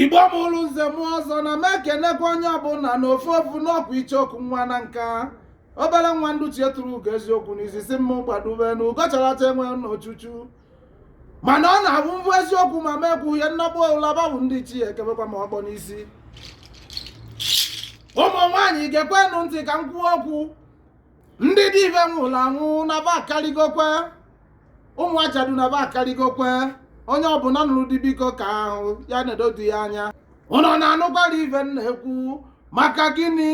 igbo mụrụ nze mụọ ọzọ na m ekenekwa onye ọbụla na ofu ofu n'ọkwa icheoku nwa nanka obere nwa ndị ichie turu ugo eziokwu na izizi mụ gbadube na ugo charata enwe n'ochuchu mana ọ na-abụ m fụ eziokwu ma m ekwuhe nnọgbu ụlaba bụ ndị ichie ekebekwa m ọkpọ n'isi ụmụ nwaanyị gekwenụ ntị ka m kwuo okwu ndị di be nwụrụ anwụ na ba akarịgokwe ụmụ ajadu na ba akarịgokwe onye ọbụla nụrụ di biko ka ahụ ya na-edo di ya anya ụnụ na-anụkwara ife m na-ekwu maka gịnị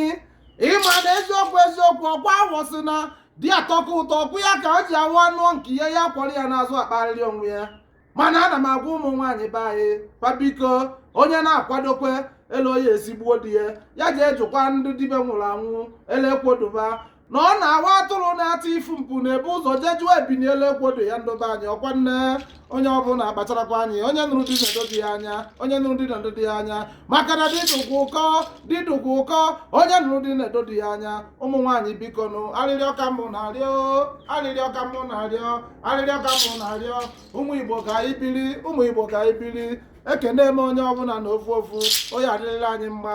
ị ma na eziokwu eziokwu ọkwa awọ sị na di atọka ụtọ ọkwụ ya ka o ji awụ ọ nụọ nke ya ya kwọrọ ya n'azụ akparịrị onwe ya mana ana m agwa ụmụ nwaanyị be anyị kwa biko onye na-akwadokwe elu ọ ya-esi gbuo di ya ya jee jụkwa ndị di be nwụrụ anwụ elu ekwo do ba na ọ na-awụ atụrụ na-ata ifu mpi na-ebu ụzọ jee jụọ ebini elu ekwo do ya ndị be anyị ọkwa nne onye ọbụla kpacharakwa anya onye nụrụ di na-edo di ya anya onye nụrụ di na-edo di ya anya maka na di dụkwa ụkọ di dụkwa ụkọ onye nụrụ di na-edo di ya anya ụmụ nwaanyị biko nụ arịrịọ ka mụ na-arịọ arịrịọ ka mụ na-arịọ arịrịọ ka mụ na-arịọ ụmụ igbo ka anyị biri ụmụ igbo ka anyị biri ekene m onye ọbụla na ofu ofu ọ ya-adịrịla anyị mma